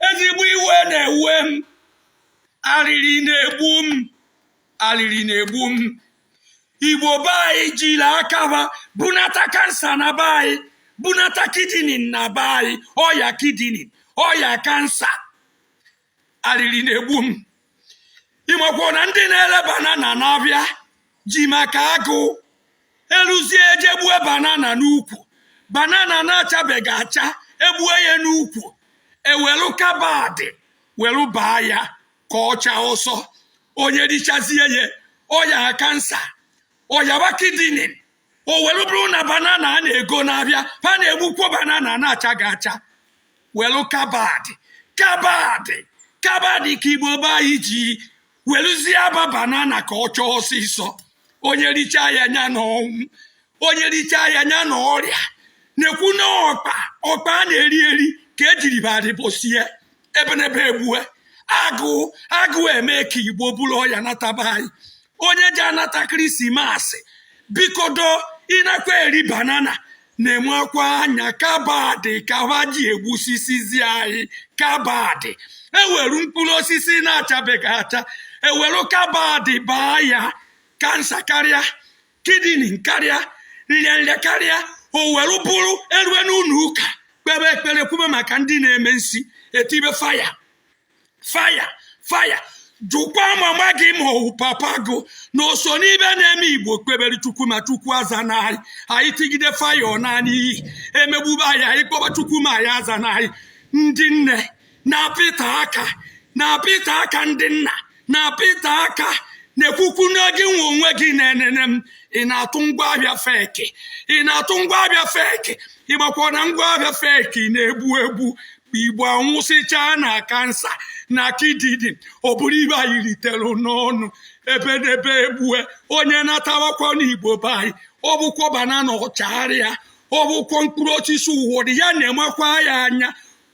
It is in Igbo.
ezigbo iwe na-ewe m arịrị na-egbu m arịrị na-egbu m igbo be anyị jiri aka ha bunata kansa na be anyị bunata kidini na be anyị ọya kidini ọya kansa arịrị na-egbu m ịmakwa na ndị na-ere banana n'abịa ji maka agụụ eluzie e jee gbue banana n'ukwu banana na-achabeghị acha egbue ya n'ukwu e welu kabadị welu baa ya ka ọ chaa ọsọ onye richazie ya ọ yaa kansa ọ yaba kidini o were bụrụ na banana a na-ego n'abịa ha na-egbukwo banana na-achaghị acha welu kabadị kabadị kabadị ka igbo be anyị ji weluzie aba banana ka ọ chaa ọsịsọ onye richaa ya nya na ọnwụ onye richaa ya nya na ọrịa na-ekwu na ọkpa ọkpa a na-eri eri ka ejiri badịbụsie ebenebe egbue agụụ agụụ eme ka igbo buru ọya nata be anyị onye ji anata krismasị bikodo ị nakwa eri banana na-enwekwa anya kabadị ka ha ji egbusisizi anyị kabadị e were mkpụrụ osisi na-achabeghị acha e were kabadị baa ya kansa karịa kidini karịa nrịanrịa karịa o were bụrụ erue n'ụlọ ụka kpebe ekpere kwube maka ndị na-eme nsi etibe faya faya faya jụkwa mama gị ma ọ wụ papa gị na o so n'ibe na-eme igbo kpebere chukwu ma chukwu azana anyị anyị tigide faya ọ naa n'iyi emegbube anyị anyị kpọba chukwu ma nya azana anyị ndị nne na-apịta aka na-apịta aka ndị nna na-apịta aka na-ekwukwu ngị nwe onwe gị na-enene m ị na-atụ ngwa ahịa feki ị na-atụ ngwa ahịa feki ị makwa na ngwa ahịa feki na-egbu egbu igbo anwụsịchaa na kansa na kidini ọ bụrụ ibe anyị ritere n'ọnụ ebenebe egbue onye natawakwa n'igbo be anyị ọ bụkwa banana ọchagharị ya ọ bụkwa mkpụrụ osisi ụwọdụ ya na-enwekwa ya anya